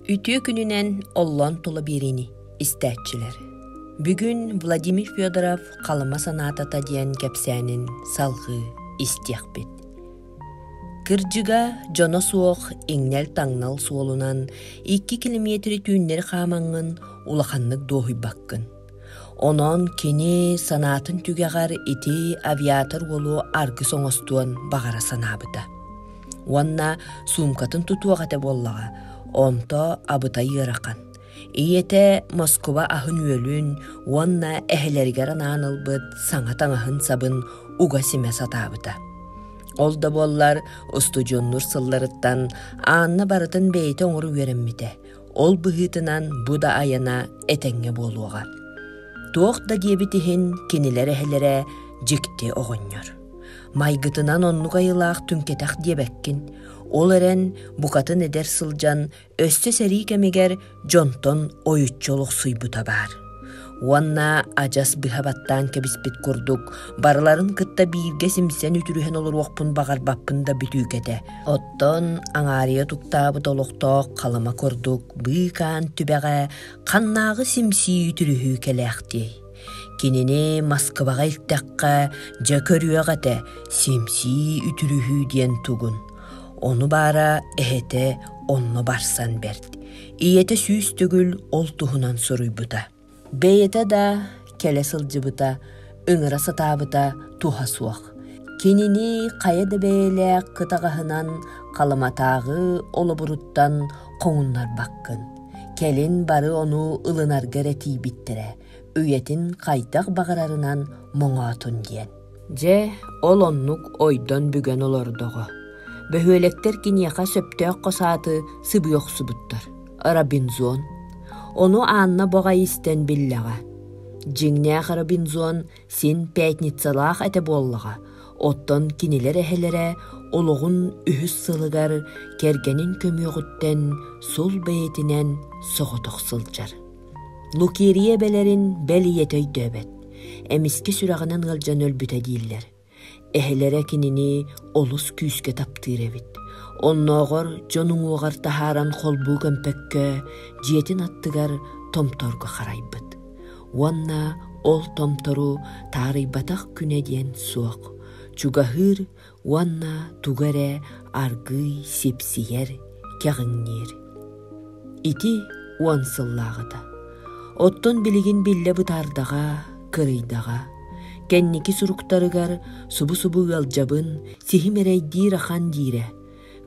Үтүө күнүнэн оллон тула биэриини истээччилэр. Бүгүн Владимир Федоров Халыма санаатата диэн кэпсээнин салҕыы истиэхпит. Кырдьыга дьоно суох иҥнэл-таҥнал суолунан 2 километры түүннэри хаамаҥҥын улаханнык дуоһуйбаккын. Онон кини санаатын түгэҕэр ити авиатор уолу аргыс оҥостуон баҕара санаабыта. Уонна суумкатын тутуох этэ буоллаҕа, онто абытай ыарахан. Ийэтэ Москуба аһын-үөлүн уонна эһэлэригэр анаан ылбыт саҥа таҥаһын-сабын уга симэ сатаабыта. Ол да буоллар устудьуоннур сылларыттан Анна барытын бэйэтэ оҥоро үөрэммитэ, Ол быһыытынан бу да айана этэҥҥэ буолуоҕа. Туох да диэбит иһин кинилэр эһэлэрэ дьикти оҕонньор. Майгытынан оннук айылаах түҥкэтэх диэбэккин. Ол эрэн букатын эдэр сылдьан өссө сэрии кэмигэр дьонтон ойуччу олохсуйбута баар. уонна адьас быһа баттаан кэбиспит курдук барыларын кытта бииргэ симсэн үтүрүһэн олоруохпун баҕарбаппын да бүтүүкэтэ оттон аҥаарыйа туктаабыт олохтоох халыма курдук быыкаан түбэҕэ ханнааҕы симсии үтүрүһүү кэлээхтиэй кинини москваҕа иртэххэ дьэ көрүөх этэ симсии үтүрүһүү диэн тугун ону баара эһэтэ онно барсан бэрт ийэтэ сүүс төгүл ол туһунан суруйбута бэйэтэ да кэлэ сылдьыбыта ыҥыра сатаабыта туһа суох кинини хайа да бэйэлээх кытаҕаһынан халыматааҕы олобуруттан хоҥуннарбаккын кэлин бары ону ылынарга эрэ тиийбиттэрэ үйэтин хайдах баҕарарынан моҥоотун диэн Дьэ, ол оннук ойдон бүгэн олордоҕо. Бөһүөлэктэр киниэхэ сөптөөх хос ааты сыбыы охсубуттар. Робинзон. Ону Анна боҕай истэн биллэҕэ. Дьиҥнээх Робинзон син пятницалаах этэ буоллаҕа. Оттон кинилэр эһэлэрэ олоҕун үһүс сылыгар кэргэнин көмүөҕүттэн сул бэйэтинэн соҕотох сылдьар. Лукерья эбэлэрин бэл ийэтэ өйдөөбөт, эмискэ сүрэҕинэн ыалдьан өлбүтэ дииллэр. Эһэлэрэ кинини олус күүскэ таптыыр эбит. Оннооҕор дьон уҥуоҕар таһааран холбуу көмпөккө, дьиэтин аттыгар томторго харайбыт. Уонна ол томтору таарыйбатах күнэ диэн суох. Чугаһыыр уонна тугу эрэ аргыый сипсийэр, кэҕиҥниир. Ити уон сыллааҕыта. Оттон билигин биллэ бытаардаҕа, кырыйдаҕа. Кэнники суруктарыгар субу-субу ыалдьабын, сиһим эрэйдиир ахан диирэ.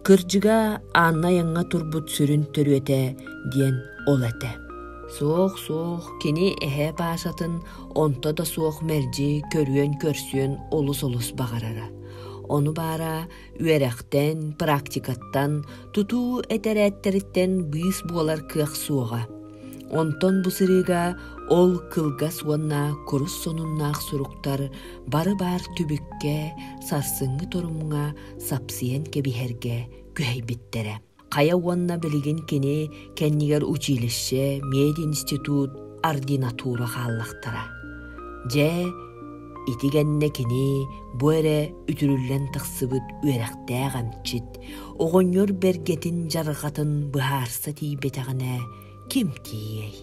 Кырдьыга Аанна айаҥҥа турбут сүрүн төрүөтэ диэн ол этэ. Суох-суох кини эһээ Паашатын онто да суох мэлдьи көрүөн-көрсүөн олус-олус баҕарара. Ону баара үөрэхтэн, практикаттан, тутуу этэрээттэриттэн быыс буолар кыах суоҕа. Онтон бу сырыыга ол кылгас уонна курус сонуннаах суруктар бары баар түбүккэ, сарсыҥҥы торумҥа сапсыйан кэбиһэргэ күһэйбиттэрэ. Хайа уонна билигин кини кэннигэр училище, мединститут, ординатура хааллахтара. Дьэ, ити кэннэ кини бу эрэ үтүрүллэн тахсыбыт үөрэхтээх эмчит, оҕонньор бэргэтин жарҕатын быһаарса тиийбэтэҕинэ ким тиийэй?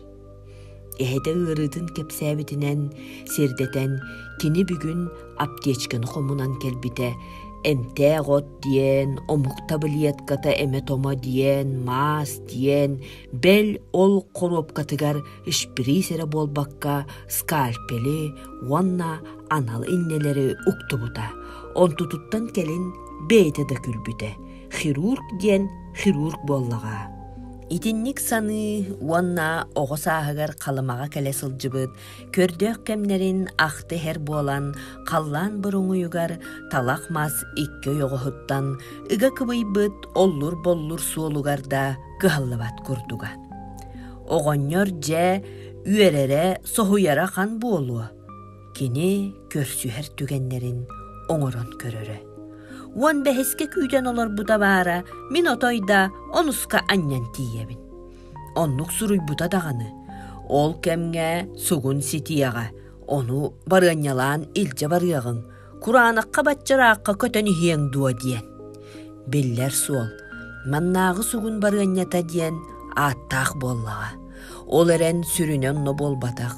Эһэтэ ыарыытын кэпсээбитинэн сирдэтэн кини бүгүн аптечканы хомунан кэлбитэ эмтээх от диэн омук табылетката эмэ-томо диэн маас диэн бэл ол хоруопкатыгар шприц эрэ буолбакка скальпели уонна анал иннэлэри уктубута онтутуттан кэлин бэйэтэ да күлбүтэ хирург диэн хирург буоллаҕа. Итинник саныы уонна оҕо сааһыгар Халымаҕа кэлэ сылдьыбыт көрдөөх кэмнэрин ахтыһэр буолан халлаан буруҥуйугар талах мас икки ойоҕоһуттан ыга кыбыйбыт оллур-боллур суолугар да кыһаллыбат курдуга. Оҕонньор дьэ үөрэрэ соһуйара хан буолуо. кини көрсүһэр түгэннэрин оҥорон көрөрө. Уон бэһискэ күүтэн олорбута баара, мин отой да онуска анньан тиийэбин. Оннук суруйбута даҕаны. Ол кэмҥэ сугун ситиэҕэ, ону барыанньалаан илдьэ барыаҕыҥ, кураанахха баччараахха көтөн иһиэҥ дуо диэн. Биллэр суол, маннааҕы сугун барыанньата диэн ааттаах буоллаҕа. Ол эрэн сүрүнэ онно буолбатах.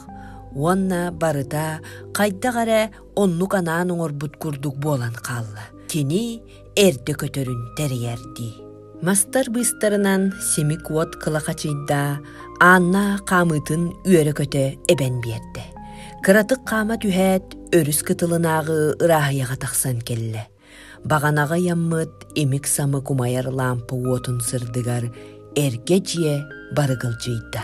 Уонна барыта хайдах эрэ оннук анаан оҥорбут курдук буолан хаалла. Кини эрдэ көтөрүн тэрийэр дии. Мастар быыстарынан симик уот кылахачыйда, Анна хаамыытын үөрэ-көтө эбэн биэрдэ. Кыратык хаама түһээт, өрүс кытылынааҕы ырааһыйаҕа тахсан кэллэ. Баҕанаҕы ыйаммыт имик-самык умайар лампа уотун сырдыгар эргэ дьиэ барыгылдьыйда.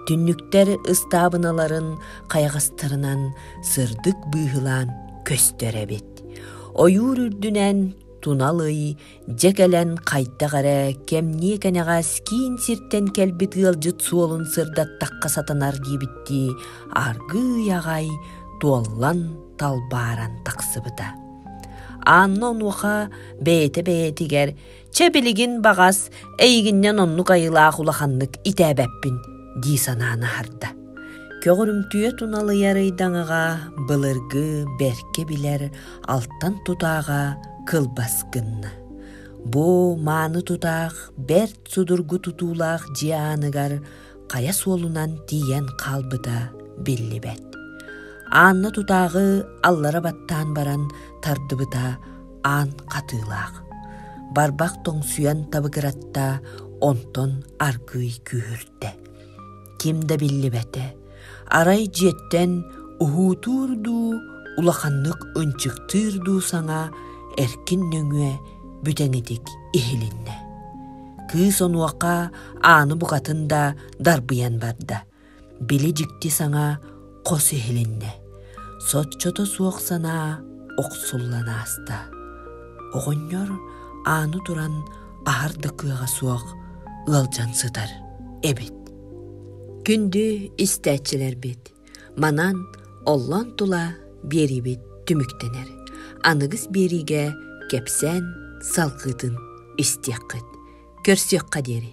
Түннүктэр ыстаабыналарын хайаҕастарынан сырдык быыһылаан көстөр эбит. Ойуур үрдүнэн тунал ый дьэ кэлэн хайдах эрэ кэмниэ кэнэҕэс киин сиртэн кэлбит ыалдьыт суолун сырдаттахха сатанар диэбиттии аргыый аҕай туоллан талбааран тахсыбыта. Анна онуоха бэйэтэ-бэйэтигэр «Чэ билигин баҕас эйигиннэн оннук айылаах улаханнык итээбэппин» дии санаан аһарда. Көҕөрүмтүө туналыйар ыйдаҥаҕа былыргы бэркэ билэр алтан тутааҕа кылбас гынна. Бу мааны тутаах бэрт судургу тутуулаах дьиэ ааныгар хайа суолунан тиийэн хаалбыта биллибэт. Анна тутааҕы аллара баттаан баран тардыбыта аан хатыылаах. Барбах тоҥсуйан табыгыратта, онтон аргыый күүһүртэ. Ким да биллибэтэ. Арай дьиэттэн уһуутуур дуу, улаханнык ынчыктыыр дуу саҥа эркин нөҥүө бүтэҥитик иһилиннэ. кыыс онуоха ааны букатын да дарбыйан барда били дьикти саҥа хос иһилиннэ соччото суох санаа охсуллан ааста оҕонньор ааны туран аһар да кыаҕа суох ыалдьан сытар эбит күндү истээччилэрбит Манан оллон тула биэрибит түмүктэнэр. Аныгыс биэриигэ кэпсээн салгыытын истиэххит, көрсүөххэ диэри.